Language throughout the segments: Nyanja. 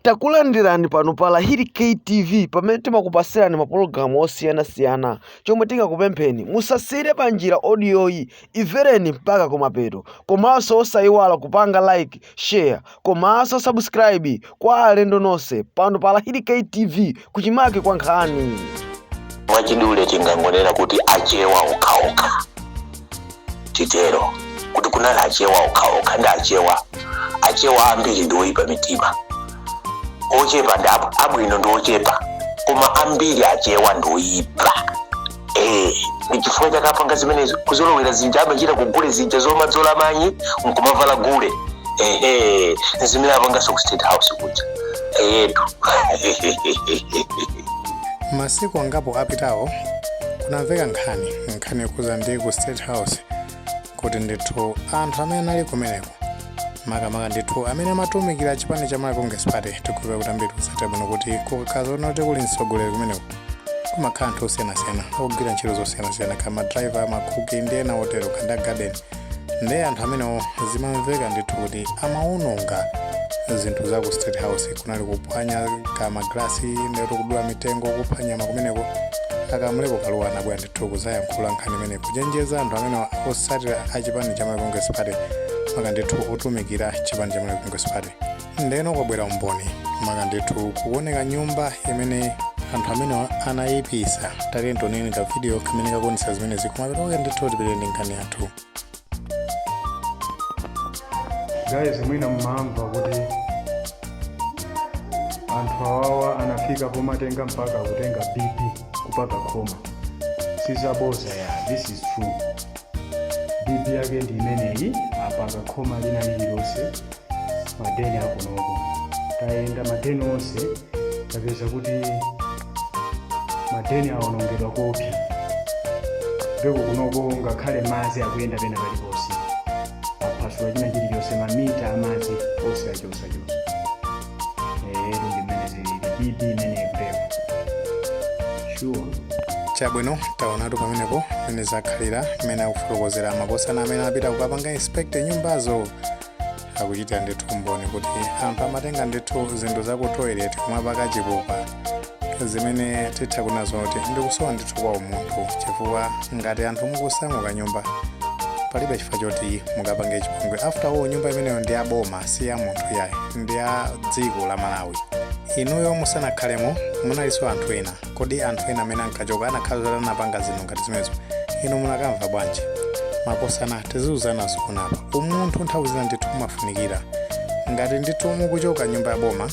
takulandirani pano pa lahiri ktv pamene timakupasirani mapulogramu osiyanasiyana chomwe tingakupempheni musasiyire panjira audioyi imvereni mpaka kumapeto komanso osayiwala kupanga like share komanso subscribe kwa alendo nonse pano pa lahiri ktv kuchimake kwa nkhani mwachidule tingangonena kuti achewa okhaokha titero kuti kunali achewa okhaokha ndi achewa achewa ambiri ndi oyipa mitima ochepa ndi ab- abwino ndi ochepa koma ambiri achewa ndi oyipa Eh, ndi chifukwa chake apanga zimenezo kuzolowera zija amachita kugule zija zomadzola manyi nkumavala gule ehe zimene apanganso ku state house kuja eyetu masiku angapo apitawo kunamveka nkhani nkhani yokhudza ndi ku state house kuti ndithu anthu amene anali kumeneko makamaka ndithu amene amatumikira chipani cha malawi congress party tikudziwa kuti ambiri ku state house kuti kukakhala zoona kuti kuli mtsogoleri kumeneko kumakhala anthu osiyanasiyana ogwira ntchito zosiyanasiyana kaya madriver makuki ndi ena otero kaya a garden ndi anthu amenewo zimamveka ndithu kuti amaononga zinthu za ku state house kunali kuphwanya kwa magalasi ndikuti kudula mitengo kupha nyama kumeneko a Kamlepo Kalua anabwera ndithu kuzayankhula nkhani imene kuchenjeza anthu amenewa otsatira a chipani cha malawi congress party maka ndithu otumikira chipani cha malawi congress party ndeno kwabwera umboni maka ndithu kuoneka nyumba imene anthu amene anayipisa tati tioneni ka video kamene kakuonetsa zimene zikumachitika ndithu tipitirire ndi nkhani yathu guys mwina mmamva kuti anthu awawa anafika pomatenga mpaka kutenga bibi kupaka m'khoma si zabodza ya this is true bibi yake ndi imeneyi apaka khoma lina lililonse madeni akunoko tayenda madeni onse tapeza kuti madeni awonongedwa koopsa ndipo kunoko ngakhale madzi akuyenda pena paliponse aphasula china chilichonse mamita amadzi onse achosachosa chabwino taonatu pamenepo mmene zakhalira mmene akufotokozera makosana amene apita kukapanga inspect nyumbazo akuchitira ndithu umboni kuti anthu amatenga ndithu zinthu za ku toilet kumapaka chipupa zimene titha kunena zoti ndikusowa ndithu kwa umunthu chifukwa ngati anthu mukusamuka nyumba palibe chifukwa choti mukapange chipongwe after all nyumba imeneyo ndi ya boma si ya munthu yayi ndi ya dziko la malawi inuyo musanakhalemo munalinso anthu ena kodi anthu ena amene ankachoka anakhala zoti anapanga zinthu ngati zimenezo inu munakamva bwanji makosana tiziuzana zikunapa umunthu nthawi zina ndithu umafunikira ngati ndithu mukuchoka nyumba ya boma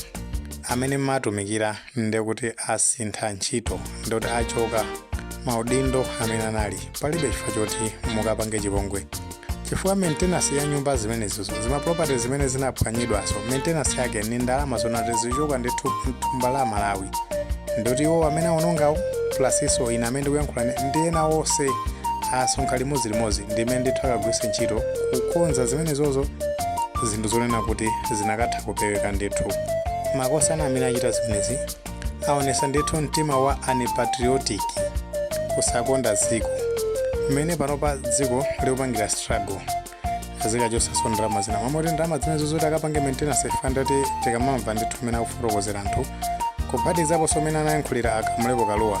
amene amatumikira nde kuti asintha ntchito nde kuti achoka maudindo amene anali palibe chifukwa choti mukapange chipongwe chifukwa maintenance ya nyumba zimenezo zimaproperty zimene zinaphwanyidwazo maintenance yake ni ndalama zonena kuti zichoka ndi thu- thumba la malawi ndoti iwo amene aonongawo plasiso ine amene ndikuyankhulane ndi ena onse asonkha limodzilimodzi ndimene ndithu akagwiritse ntchito kukonza zimenezozo zinthu zonena kuti zinakatha kupeweka ndithu makosana amene achita zimenezi aonesa ndithu mtima wa unpatriotic kusakonda dziko mmene panopa dziko likupangira struggle kaziika chonchoso ndalama zina mmalo moti ndalama zimenezo zoti akapange maintenance fandati tikamamva ndithu mmene akufotokozera anthu kuphatizaponso mmene anayankhulira a Kamlepo Kalua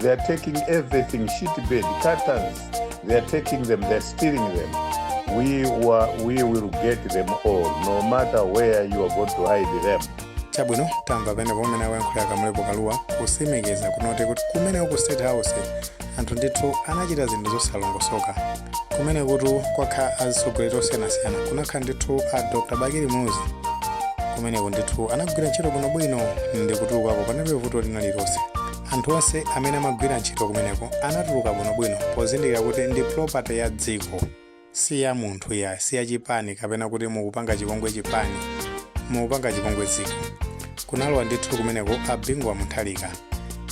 They are taking everything, shit bed, curtains. They are taking them, they are stealing them. We, wa, we will get them all, no matter where you are going to hide them. chabwino tamva penepo mmene akuyankhulira a Kamlepo Kalua kusimikeza kunena kuti kumeneko ku state house anthu ndithu anachita zinthu zosalongosoka kumenekotu kwakha azitsogoleri osiyanasiyana kunakhala ndithu a dr bakili muluzi kumeneko ndithu anagwira ntchito bwinobwino ndi kutulukapo panalibe vuto lina lililonse anthu onse amene amagwira ntchito kumeneko anatuluka bwinobwino pozindikira kuti ndi property ya dziko si ya munthu yayi si ya chipani kapena kuti mukupanga chipongwe chipani mukupanga chipongwe dziko kunalowa ndithu kumeneko a bingu wa mutharika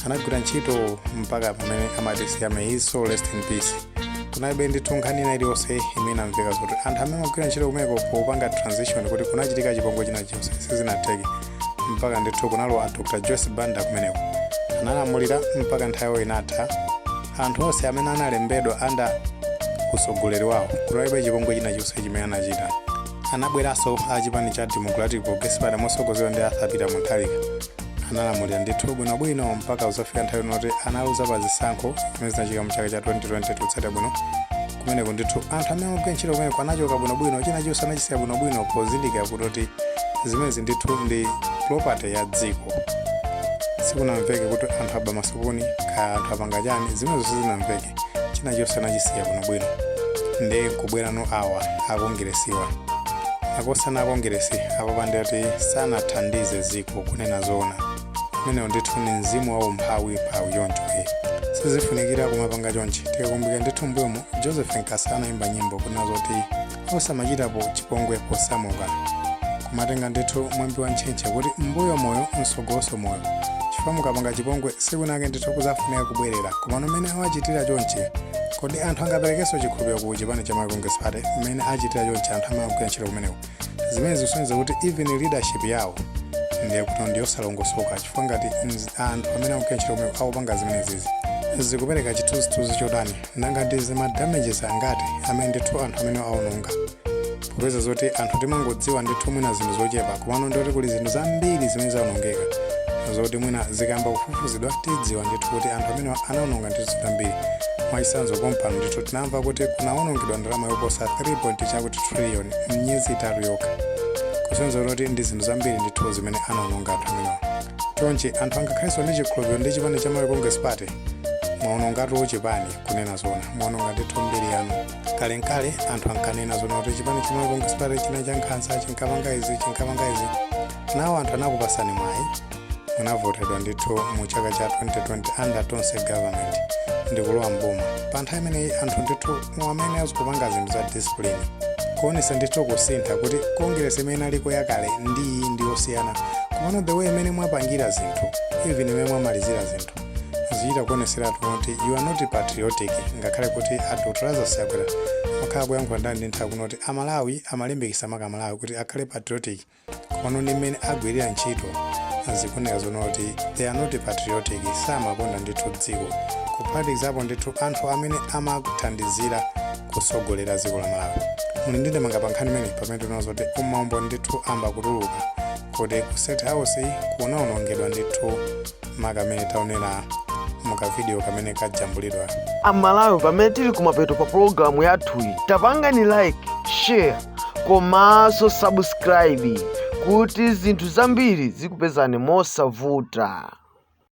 anagwira ntchito mpaka pamene amatisiya may his soul rest in peace kunalibe ndithu nkhani ina iliyonse imene amveka kuti anthu amene amagwira ntchito kumeneko popanga transition kuti kunachitika chipongwe china chonse sizinatheke mpaka ndithu kunalowa dr joyce banda kumeneko analamulira mpaka nthawi inatha anthu onse amene analembedwa under utsogoleri wawo kunalibe chipongwe china chonse chimene anachita anabweranso a chipani cha democratic progressive party motsogozedwa ndi arthur peter mutharika analamulira ndithu bwinobwino mpaka kuzafika nthawi yoti analuza pa zisankho zimene zinachitika mu chaka cha 2020 kutsata bwino kumeneko ndithu anthu amene amagwira ntchito kumeneko anachoka bwinobwino china chonse anachisiya bwinobwino pozindikira kuti zimenezi ndithu ndi property ya dziko sikunamveke kuti anthu aba masupuni kaya anthu apanga chani zimenezo sizinamveke china chonse anachisiya bwinobwino ndi kubwera no awa akongeresiwa makosana akongeresi apa pandekha kuti sanathandize dziko kunena zoona umenewo ndithu ni mzimu wa umphawi mphawi choncho e sizifunikira kumapanga chonchi tikakumbukira ndithu mbuyomo joseph nkasa anayimba nyimbo kunena zoti osamachitapo chipongwe posamuka kumatenga ndithu mwambi wa ntchentche kuti m'mbuyo moyo mtsogolonso moyo chifukwa mukapanga chipongwe tsiku linake ndithu kudzafunika kubwerera komano mmene awachitira chonchi kodi anthu angaperekenso chikhulupiriro ku chipani cha malawi congress party mmene achitira chonchi anthu amene akugwira ntchito kumeneko zimene zikusonyeza kuti even leadership yawo ndiye kuti ndiyosalongosoka chifukwa ngati mz- anthu amene akugwira ntchito komwe akupanga zimenezizi zikupereka chithunzithunzi chotani nanga ndi zima damages angati amene ndithu anthu amenewa aononga popeza zoti anthu timangodziwa ndithu mwina zinthu zochepa komano ndoti kuli zinthu zambiri zimene zaonongeka zoti mwina zikayamba kufufuzidwa tidziwa ndithu kuti anthu amenewa anaononga ndithu zambiri mwachitsanzo pompano ndithu tinamva kuti kunaonongedwa ndalama yoposa 3 chakuti trillion m'miyezi itatu yokha kusonyeza kuti ndi zinthu zambiri ndithu zimene anaononga anthu amenewa chonchi anthu angakhalenso ndi chikhulupiriro ndi chipani cha malawi congress party mwaonongatu chipani kunena zona mwaononga ndithu mbiri yanu kalenkale anthu ankanena zona kuti chipani cha malawi congress party chinali cha nkhanza chinkapanga izi chinkapanga izi nawo anthu anakupasani mwayi munavotedwa ndithu mu chaka cha 2020 under tonse government ndikulowa mboma pa nthawi imeneyi anthu ndithu amene adzikapanga zinthu za discipline kuonesa ndithu kusintha kuti congress imene inaliko yakale ndi iyi ndi yosiyana komano the way imene mwapangira zinthu even imene mwamalizira zinthu zichita kuoneseratu kuti you are not patriotic ngakhale kuti a doctor lazarus chakwera amakhala akuyankhula nthawi ndi nthawi kunena kuti amalawi amalimbikisa maka amalawi kuti akhale patriotic komano ndi mmene agwirira ntchito zikuoneka zoona kuti they are not patriotic samakonda ndithu dziko kuphatikizapo ndithu anthu amene amakuthandizira kutsogolera dziko la malawi muli ndi ndemanga pa nkhani imeneyi pamene tinaona zoti umboni ndithu wayamba kutuluka kuti ku state house kunaonongedwa ndithu makamaka mmene taonera mukavidiyo kamene kajambulidwa amalawi pamene tili kumapeto pa pologalamu yathuyi tapangani like share komanso subscribe kuti zinthu zambiri zikupezani mosavuta